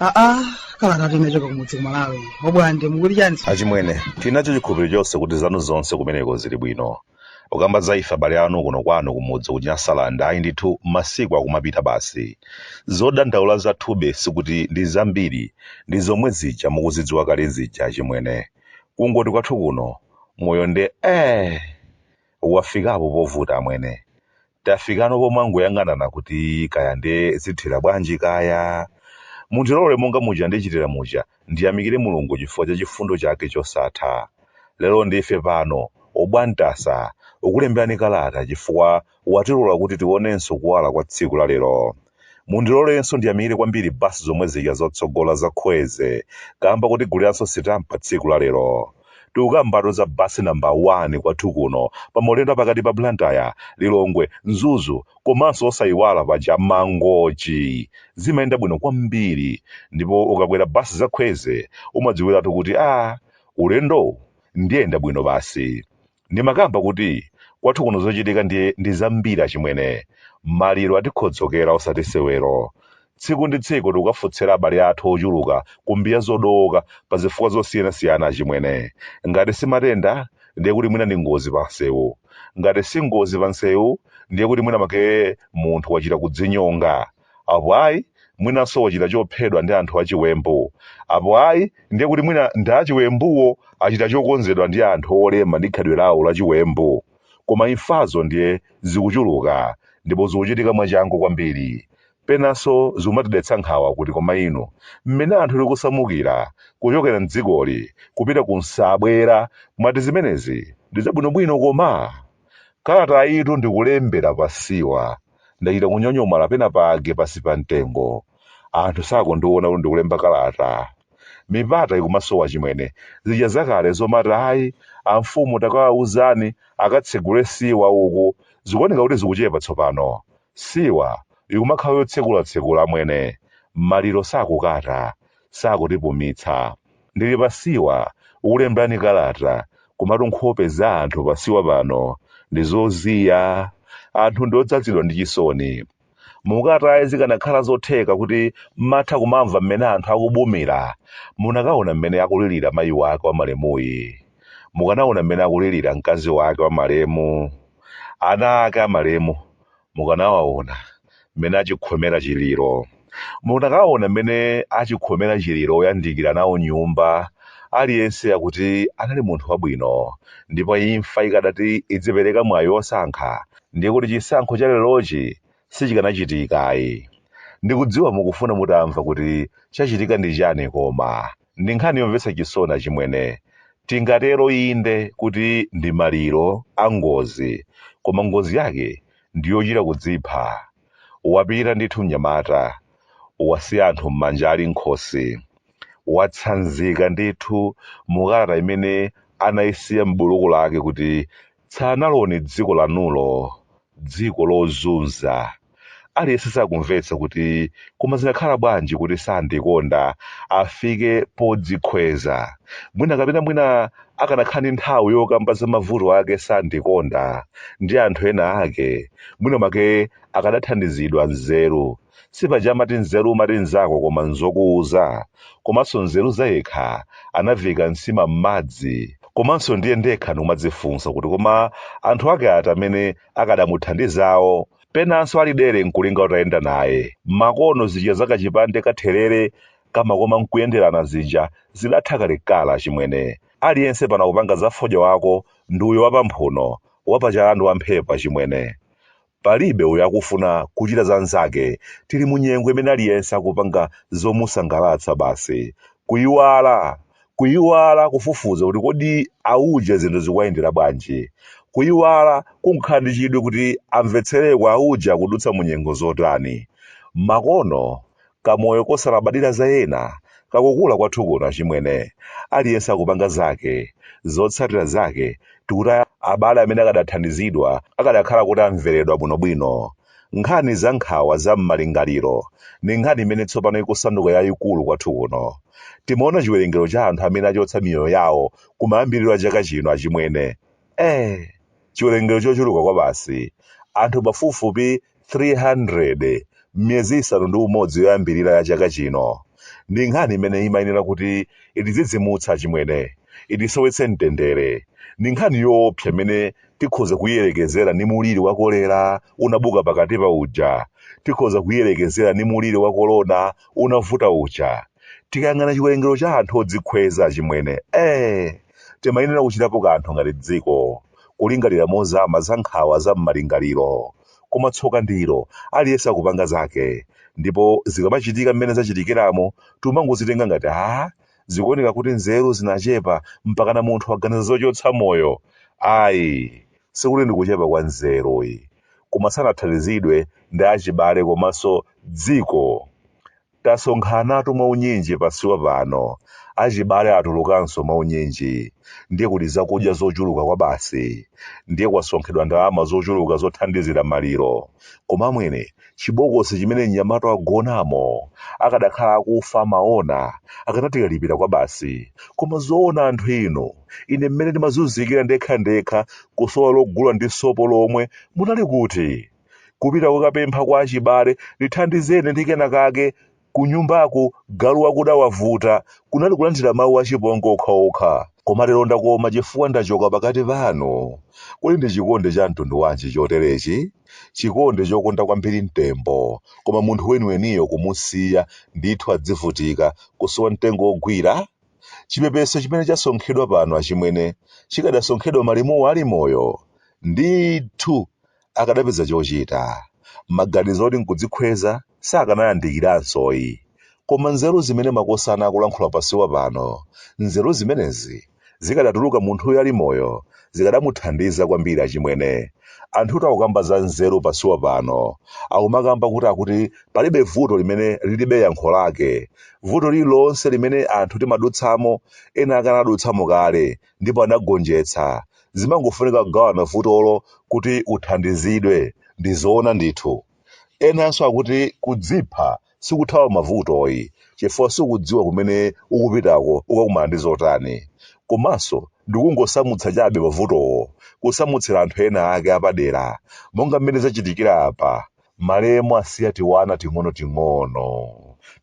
aa kalata tinachoka kumudzi kumalawi obwande mukuti chani achimwene tinacho chikhulupiriro chonse kuti zanu zonse kumeneko zili bwino ukamba za ife abale anu kuno kwanu kumudzi ku nyasaland ayi ndithu masiku akumapita basi zodandaula zathube sikuti ndi zambiri ndi zomwe zija mukuzidziwa kale zija achimwene kungoti kwathu kuno moyo nde eh wafikapo povuta amwene tafikano pomangoyang'anana kuti kaya nde zithera bwanji kaya. Mundilole monga muja ndichitira muja ndiyamikire Mulungu chifukwa cha chifundo chake chosatha. Lero ndife pano, Obwantasa, ukulemberani kalata chifukwa watilola kuti tionenso kuwala kwa tsiku la lero. Mundilorenso ndiyamikire kwambiri bus zomwe zija zotsogola za Kwezy kamba kotiguliranso sitampa tsiku la lero. Tikukambatu za bus number 1 kwathu kuno pa maulendo apakati pa Blantyre, Lilongwe, Mzuzu komanso osayiwala paja Mangochi zimayenda bwino kwambiri ndipo ukakwera bus za Kwezy umadziwiratu kuti aah ulendowu ndiyenda bwino basi. Ndimakamba kuti kwathu kuno zochitika ndiye ndi zambiri achimwene. Maliro atikhodzokera osati sewero. Tsiku ndi tsiku tikukafotsera abale athu ochuluka ku mbiya zodowoka pa zifukwa zosiyanasiyana achimwene. Ngati si matenda ndiye kuti mwina ndi ngozi pansewu. Ngati si ngozi pansewu ndiye kuti mwina mwake munthu wachita kudzinyonga. Apo ayi, mwinanso wachita chophedwa ndi anthu achiwembu. Apo ayi, ndiye kuti mwina ndi achiwembuwo achita chokonzedwa ndi anthu olema ndi khalidwe lawo lachiwembu. Koma imfazo ndiye zikuchuluka ndipo zikuchitika mwachangu kwambiri. Penanso zikumatidetsa nkhawa kuti koma inu, mmene anthu tikusamukira kuchokera m'dzikoli kupita ku msabwera, mwati zimenezi ndi zabwinobwino koma? Kalatayitu ndikulembera pa siwa ndachita kunyonyomala penapake pansi pa mtengo. Anthu sakundiona kuti ndikulemba kalata. Mipata ikumasowa achimwene. Zija zakale zomati ayi amfumu takawauzani akatsegule siwa uku zikuoneka kuti zikuchepa tsopano. Siwa ikumakhala yotsekula-tsekula amwene. Maliro sakukata, sakutipumitsa. Ndili pa siwa, ukulembelani kalata, komatu nkhope za anthu pa siwa pano ndi zoziya. Anthu ndi odzadzidwa ndi chisoni. Mukataye zikanakhala zotheka kuti mmatha kumamva mmene anthu akubumila, munakaona mmene akulilira mayi wake wa malemuyi. Mukanaona mmene akulilira mkazi wake wa malemu. Ana ake a malemu. mukanawaona mmene achikhomera chiliro. Mukanawaona mmene achikhomera chiliro oyandikira nawo nyumba, aliyense akuti anali munthu wabwino. Ndipo imfa ikadati idzipereka mwayi wosankha, ndiye kuti chisankho cha lerochi sichikanachitika ayi. Ndikudziwa mukufuna mutamva kuti chachitika ndi chani koma. Ndi nkhani yomvetsa chisoni achimwene. Tingatero inde kuti ndi maliro a ngozi koma ngozi yake ndi yochita kudzipha. Wapita ndithu mnyamata, wasiya anthu m'manja ali m'khosi. Watsanzika ndithu mu kalata imene anaisiya m'buluku lake kuti tsalani dziko lanulo dziko lozunza aliyense sakumvetsa kuti koma zinakhala bwanji kuti sandikonda afike podzikhweza mwina kapena mwina akanakhala ndi nthawi yokamba za mavuto ake sandikonda ndi anthu ena ake mwina mwake akadathandizidwa nzeru sipaja amati mnzeru umati nzako koma nzokuuza komanso nzeru zayekha anaviika nsima m'madzi komanso ndi ine ndekha ndikumadzifunsa kuti koma anthu ake ati amene akadamuthandizawo penanso ali dere nkulinga utayenda naye makono zija zakachipande cha therere kamakoma nkuyenderana zija zidatha kalekala chimwene aliyense pano akupanga za fodya wako ndi uyo wapamphuno wapachala ndi wamphepo achimwene Palibe uyo akufuna kuchita za nzake tili mu nyengo imene aliyense akupanga zomusangalatsa basi kuiwala kuiwala kufufuza kuti kodi auje zinthu zikuwayendera bwanji kuiwala kukhala ndi chidwi kuti amvetsereko auje akudutsa mu nyengo zotani makono Kamoyo kosalabadira za ena kakukula kwathu kuno achimwene. Aliyense akupanga zake. Zotsatira zake tikutaya abale amene akadathandizidwa akadakhala kuti amveredwa bwinobwino. Nkhani za nkhawa za m'malingaliro ndi nkhani imene tsopano ikusanduka yaikulu kwathu kuno. Timaona chiwerengero cha anthu amene achotsa miyoyo yawo kumayambiriro a chaka chino achimwene. Eee! Chiwerengero chochuluka kwabasi. Anthu pafupifupi 300. 300 m'miyezi isanu ndi umodzi yoyambirira ya chaka chino, ndi nkhani imene imayenera kuti itidzidzimutse achimwene, itisowetse mtendere. Ndi nkhani yoopsa imene tikhoza kuiyerekezera ndi muliri wa kolera unabuka pakatipa uja. Tikhoza kuiyerekezera ndi muliri wa kolona unavuta uja. Tikayang'ana chiwerengero cha anthu odzikhweza achimwene, ee, timayenera kuchitapo kanthu ngati dziko. kulingalira mozama za nkhawa za m'malingaliro. Koma tsoka ndilo, aliyense akupanga zake. Ndipo zikamachitika mmene zachitikiramu, timangozitenga ngati, Haa? Zikuoneka kuti nzeru zinachepa mpakana munthu waganiza zochotsa moyo. Ayi, sikuti ndi kuchepa kwa nzeru yi. Koma sanathandizidwe ndi achibale komanso dziko. Tasonkhanatu mwaunyinji pasiwa pano, achibale atulukanso mwaunyinji, ndiye kuli zakudya zochuluka kwabasi, ndiye kwasonkhedwa ndalama zochuluka zothandizira maliro, koma amwene, chibokosi chimene mnyamata wagonamo akanakhala akufa amaona, akanatikalipira kwabasi, koma zoona anthu inu, ine mmene ndimazunzikira ndekhandekha kusowa logula ndi sopo lomwe, munali kuti? kupita kukapempha kwa achibale ndithandizeni ndi kena kake kunyumbako galu wakuda wavuta kunali kulandira mawu achipongwe okhaokha koma lero ndakoma chifukwa ndachoka pakati panu kodi ndi chikondi cha mtundu wanji choterechi chikondi chokonda kwambiri mtembo koma munthu weniweniyo kumusiya ndithu adzivutika kusowa mtengo wogwira chipepeso chimene chasonkhedwa pano achimwene chikadasonkhedwa malemuwo ali moyo ndithu akadapeza chochita. Maganizo oti n'kudzikhweza sakanayambikiranso yi. Koma nzeru zimene makosana akulankhula pasiwa pano, nzeru zimenezi zikadatuluka munthuyu ali moyo zikadamuthandiza kwambiri achimwene. Anthu takukamba za nzeru pasiwa pano akumakamba kuti akuti palibe vuto limene lilibe yankho lake. Vuto lililonse limene anthu timadutsamo ena ake anadutsamo kale ndipo anagonjetsa. Zimangofunika kugawana vutolo kuti uthandizidwe. Ndi zoona ndithu. Enanso akuti kudzipha sikuthawa mavuto ayi, chifukwa sukudziwa kumene ukupitako ukakumana ndi zotani. Komanso ndi kungosamutsa chabe mavutowo, kusamutsira anthu ena ake apadera, monga mmene zachitikira apa. Malemu asiya tiwana ting'onoting'ono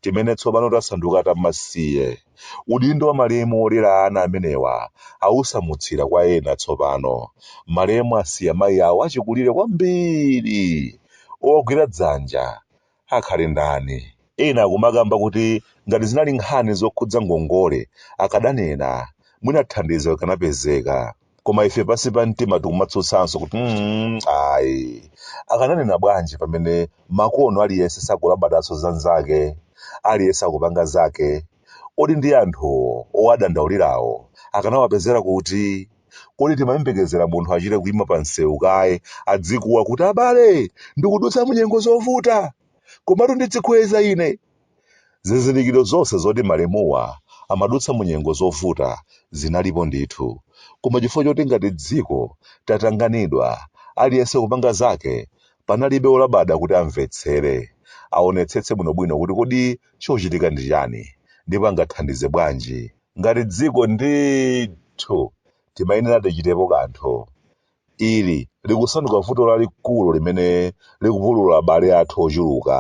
timene tsopano tasanduka tamasiye. Udindo wa malemu wolera ana amenewa awusamutsira kwa ena tsopano. Malemu asiya mayi awo achikulire kwambiri. Owagwira dzanja akhale ndani? Ena akumakamba kuti ngati zinali nkhani zokhudza ngongole akadanena, mwina thandizo likanapezeka. koma ife pansi pa mtima tikumatsutsanso kuti mm, ayi akananena bwanji pamene makono aliyense sakulabadanso za nzake aliyense akupanga zake kodi nd'anthuwo owadandaulirawo akanawapezera kuti kodi timayembekezera munthu achite kuima pa msewu kaye adzikuwa kuti abale ndikudutsa munyengo zovuta komatu ndidzikhweza ine Zizindikiro zonse zoti malemuwa amadutsa mu nyengo zovuta zinalipo ndithu, koma chifukwa choti ngati dziko tatanganidwa, aliyense kupanga zake, panalibe wolabada kuti amvetsere, aonetsetse bwinobwino kuti kodi chochitika ndi chani ndipo angathandize bwanji. Ngati dziko ndithu timayenera tichitepo kanthu. Ili likusanduka vuto lalikulu limene likupulula abale athu ochuluka.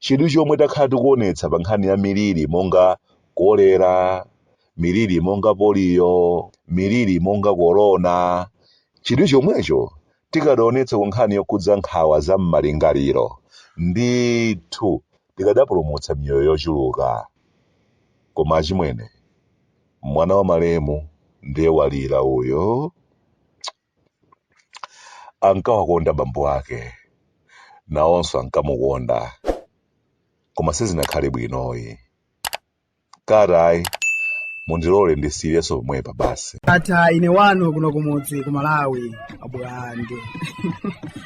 Chidwi chomwe takhala tikuonetsa pa nkhani ya miliri monga kolera, miliri monga poliyo, miliri monga korona, chidwi chomwecho tikanaonetsa ku nkhani yokhudza nkhawa za m'malingaliro, ndithu tikadapulumutsa miyoyo yochuluka. Koma achimwene, mwana wa malemu ndiye walira uyo. ankawakonda bambo ake nawonso ankamukonda koma sizinakhale bwinoyi tatayi mundilole ndisiyirenso pomwepa basi ndatha ine wanu kuno kumudzi ku malawi abwande